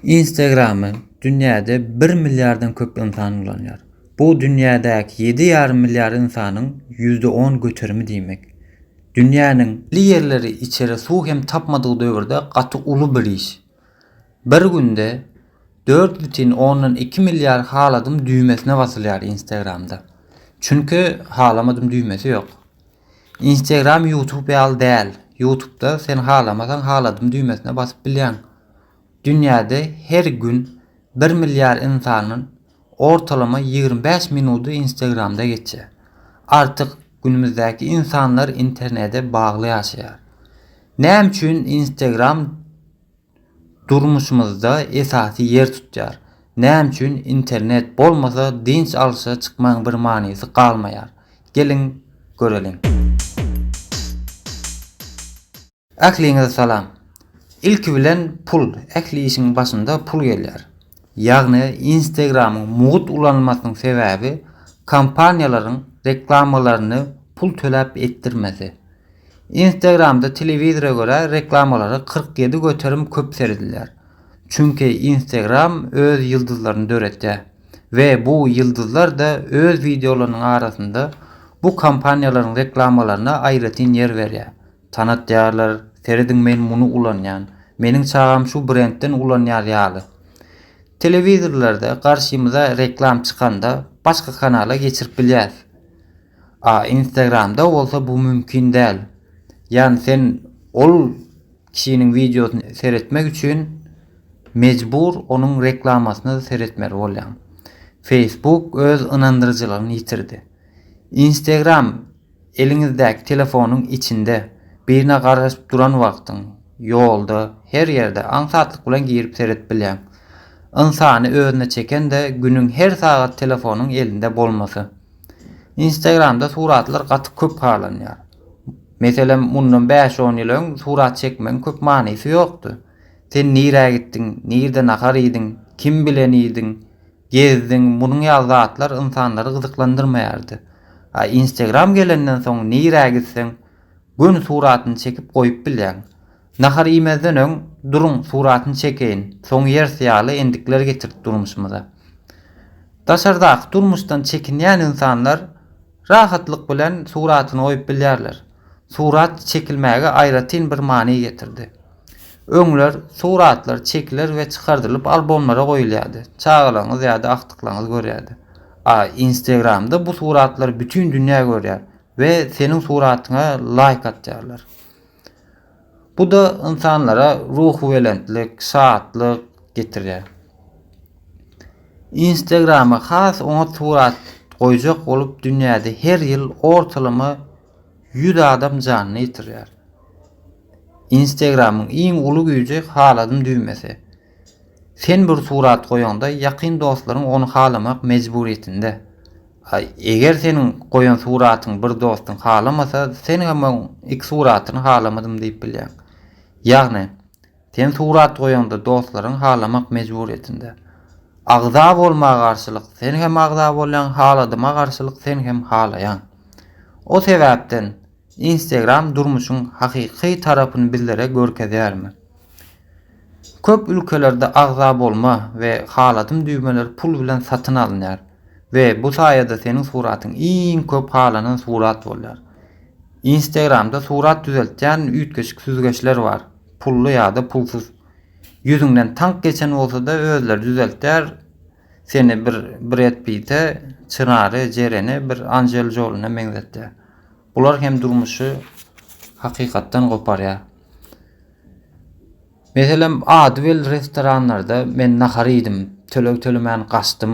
Instagramy dünýäde bir milliardan köp ynsan ulanýar. Bu dünýädäki ýedi ýarym milliard ynsanyň ýüzde on göterimi diýmek. Dünýäniň. Li ýerleri içere suw hem tapmadyk döwürde gaty uly bir iş. Bir günde dört butin ondan iki milliard haladym düýmesine basylýar Instagramda. Çünki halamadym düýmesi ýok. Instagram ýutub ýaly däl. Ýutubda sen halamasaň haladym düýmesine basyp bilýäň. Dünýäde her gün bir milliard ynsanyň ortalama ýigrimi bäş minudy Instagramda geçýär. Artyk günümizdäki ynsanlar internede bagly ýaşaýar. Näme üçin Instagram durmuşymyzda esasy ýer tutýar? Näme üçin internet bolmasa dynç alşa çykmaň bir manysy galmaýar? Geliň göreliň. Ähliňize salam. Ilki bilen pul, ähli işiň başynda pul gelýär. Ýagny Instagramyň mugt ulanylmasynyň sebäbi kompaniýalaryň reklamalaryny pul töläp etdirmesi. Instagramda telewizora görä reklamalara kyrk ýedi göterim köp seredilýär. Çünki Instagram öz ýyldyzlaryny döretýär we bu ýyldyzlar da öz wideolarynyň arasynda bu kompaniýalaryň reklamalaryna aýratyn ýer berýär. Tanatýarlar, serediň men muny ulanýan. Meniň çagam şu brendden ulanýar ýaly. Telewizorlarda garşymyza reklam çykanda başga kanala geçirip bilýäs. A instagramda bolsa bu mümkin däl. Ýagny sen ol kişiniň wideosyny seretmek üçin mejbur onuň reklamasyna seretmeli bolýaň. Facebook öz ynandyryjylygyny ýitirdi. Instagram Eliňizdäki telefonyň içinde, birine garaşyp duran wagtyň, ýolda, her ýerde aňsatlyk bilen girip seret bilýäň. Ynsany özüne çeken-de günüň her sagat telefonyň elinde bolmasy. Instagramda suratlar gaty köp halanýar. Meselem mundan bäş-on ýyl öň surat çekmegiň köp manysy ýokdy. Sen nirä gitdiň, nirde nahar iýdiň, kim bilen iýdiň, Gezdiň, munuň ýaly zatlar ynsanlary gyzyklandyrmaýardy. A Instagram gelenden soň nirä gitseň, göni suratyny çekip goýup bilýäň. Nahar iýmezden öň, duruň, suratyny çekeýin, soň ýeris ýaly endikler getirdi durmuşymyza. Daşardaky durmuşdan çekinýän ynsanlar rahatlyk bilen suratyny goýup bilýärler. Surat çekilmäge aýratyn bir many getirdi. Öňler suratlar çekiler we çykardylyp albomlara goýulýardy. Çagalaryňyz ýa-da agtyklaryňyz görýärdi. A Instagramda bu suratlary bütin dünýä görýär we seniň suratyňa laýk atýarlar. Bu-da ynsanlara ruhubelentlik, şatlyk getirýär. Instagrama has oňat surat goýjak bolup dünýäde her ýyl ortalama Ýüz adam janyny ýitirýär. Instagramyň iň uly güýji haladym düwmesi. Sen bir surat goýaňda ýakyn dostlaryň ony halamak mejburyýetinde. A eger seniň goýan suratyňy bir dostuň halamasa sen hem oň iki suratyny halamadym diýip bilýäň. Ýagny Sen surat goýaňda dostlaryň halamak mejburýetinde. Agza bolma garşylyk sen hem agza bolýaň haladyma garşylyk sen hem halaýaň. O sebäpden Instagram durmuşyň hakyky tarapyny bizlere görkezýärmi? Köp ülkelerde agza bolma we haladym düwmeler pul bilen satyn alynýar we bu saýada seniň suratyň iň köp halanan surat bolýar. Instagramda surat düzeltýän üýtgeşik süzgeçler bar. Pully ýa-da pulsuz. Ýüzüňden tank geçen bolsa-da özleri düzeltýär. Seni bir Bred Pite, Çyrary, Jereni bir Anjel Jolyna meňzetýär. Bular hem durmuşy hakykatdan goparýar. Meselem, ady belli restoranlarda men nahar iýdim, töleg tölemän gaçdym.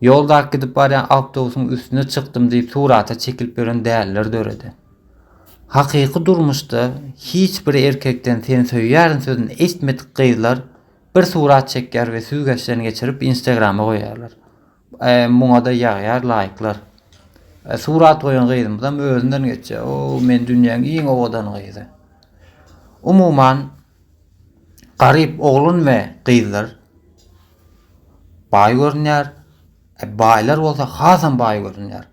Ýoldaky gidip barýan awtobusyň üstüne çykdym diýip surata çekilip ýören däliler döredi. Hakyky durmuşda hiç bir erkekden seni söýýärin sözüni eşitmedik gyzlar bir surat çekýär we süzgeçden geçirip instagrama goýýarlar. Muňada ýagýar laýklar. Surat goýan gyzymyzam özünden geçýär. O men dünýäň iň owadan gyzy. Umuman garyp oglun we gyzlar baý görünýär, e, baýlar bolsa hasam baý görünýär.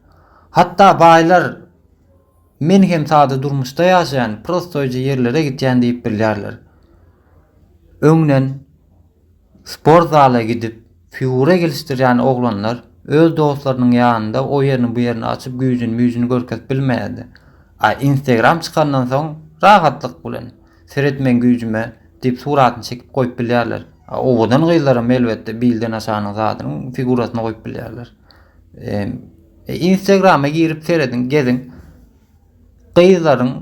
Hatda baýlar men hem sada durmuşda ýaşaýan, prostoýja ýerlere gitýän diýip bilýärler. Öňden sport zala gidip, figura gelişdirýän oglanlar öz dostlarynyň ýanynda o ýerini bu ýerini açyp güýjüni-müýjüni görkezip bilmeýärdi. A Instagram çykandan soň rahatlyk bilen Seret meň güýjüme diýip suratyny çekip goýup bilýärler. Owadan gyzlaram elbetde bilden aşanyň zadynyň figurasyny goýup bilýärler. E, Instagrama girip serediň, geziň. Gyzlaryň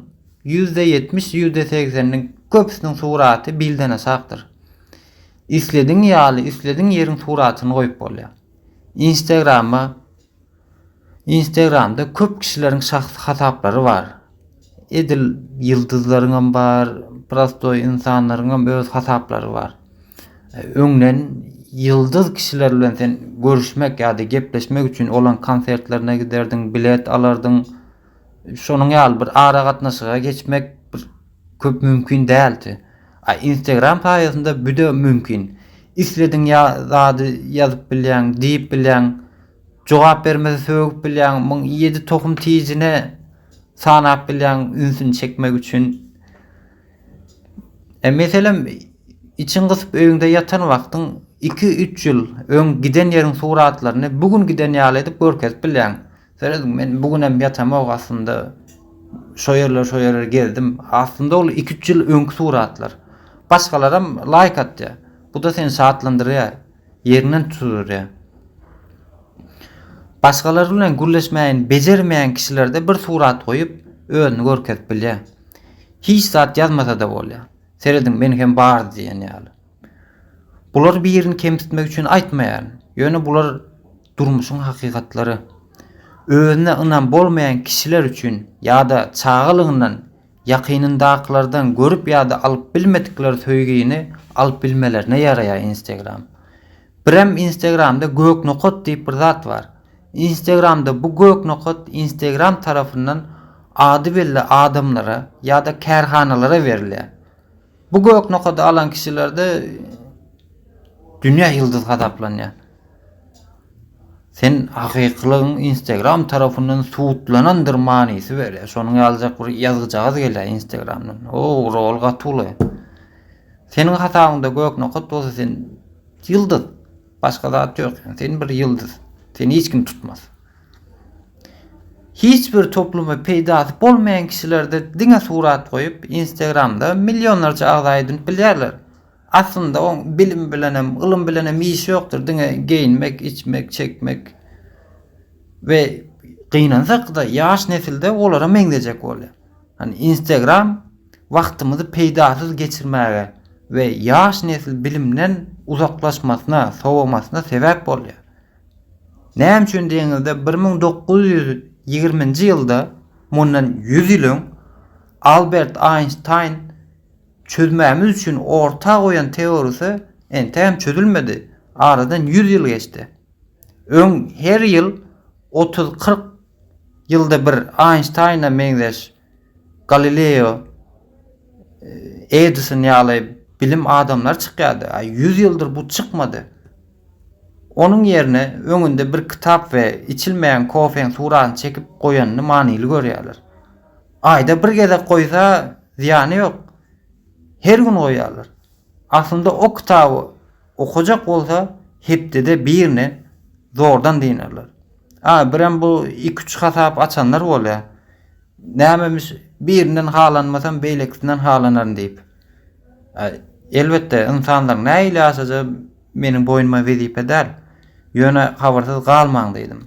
%70, %80-niň köpüsiniň suraty bilden aşakdyr. Islediň ýaly, islediň ýeriň suratyny goýup bolýar. Instagrama Instagramda köp kişileriň şahsy hasaplary bar. Edil ýyldyzlaryňam bar, prostoý ynsanlaryňam öz hasaplary bar. Öňden ýyldyz kişiler bilen sen görüşmek ýa-da gepleşmek üçin olaň konsertlerine giderdiň, bilet alardyň. Şonuň ýaly bir aragatnaşyga geçmek Köp mümkin däldi. A instagram saýasynda büde mümkin. Islediň ýa zady ýazyp bilýäň, diýip bilýäň. Jogap bermese sögüp bilýäň. Muň ýedi tohum tijine sanap bilýäň ünsüni çekmek üçin. E meselem içiň gysyp öýüňde ýatan wagtyň iki üç ýyl öň giden ýeriň suratlaryny bu gün giden ýaly edip görkezip bilýäň. Serediň men bu günem ýatamok aslynda şo ýerler şo ýerler gezdim aslynda ol iki üç ýyl öňki suratlar başgalaram laýk atýa buda seni şatlandyrýa ýeriňden tutydyrýa başgalar bilen gürleşmäýin bejermeýän kişilerde bir surat goýup özüni görkezip bilýa hiç zat ýazmasada bolýa serediň men hem bar diýen ýaly bular birini kemsitmek üçin aýtmaýaryn ýöne bular Durmuşyň hakykatlary. Özüne ynam bolmaýan kişiler üçin ýa-da çagalygyndan ýakynyndakylardan görüp ýa-da alyp bilmedikleri söýgini alyp bilmelerine ýaraýar Instagram. Birem Instagramda gök nokat diýip bir zat bar. Instagramda bu gök nokat Instagram tarapyndan ady belli adamlara ýa-da kärhanalara berilýär. Bu gök nokady alan kişilerde dünýä ýyldyz hasaplanýar. Sen hakykylygyň Instagram tarapyndan subutlanandyr manysy berýär. Şonuň ýalyjak bir ýazgyjagaz gelýär Instagramdan. O, rol gaty uly. Seniň hasabyňda gök nokat bolsa sen ýyldyz. Başga zat ýok. Sen bir ýyldyz. Seni hiç kim tutmaz. Hiç bir topluma peýdasy bolmaýan kişilerde diňe surat goýup instagramda millionlarça agza edinip bilýärler. Aslynda oň bilim bilenem ylym bilenem işi ýokdyr diňe geýinmek içmek çekmek we gynansak-da ýaş nesilde olara meňzejek bolýar. Hani instagram wagtymyzy peýdasyz geçirmäge we ýaş nesil bilimden uzaklaşmasyna sowamasyna sebäp bolýar. Näme üçin diýeniňizde bir müň dokuz ýüz ýigriminji ýylda mundan ýüz ýyl öň Albert Einstein çözmämiz üçin orta goýan teorisy entegem çözülmedi aradan ýüz ýyl geçdi öň her ýyl otuz kyrk ýylda bir Einsteina meňzeş Galileo, Edison ýaly bilim adamlary çykýardy. Aý, ýüz ýyldyr bu çykmady. Onuň ýerine öňünde bir kitap we içilmeýän kofeň suratyny çekip goýanyny manyly görýärler. Aýda bir gezek goýsa, zyýany ýok. Her gün goýýarlar. Aslynda o kitaby okajak bolsa, hepdede birine zordan dynerler. A, birem bu iki-üç hasap açanlar bolýar. Nämemiş, birinden halanmasam, beýlekisinden halanaryn diýip. Elbetde, ynsanlaryň nähili ýaşajagy meniň boýnuma wezipe däl. Ýöne habarsyz galmaň diýdim.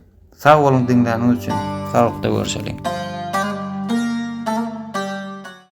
Sag boluň diňläniňiz üçin. Salykda görşeliň.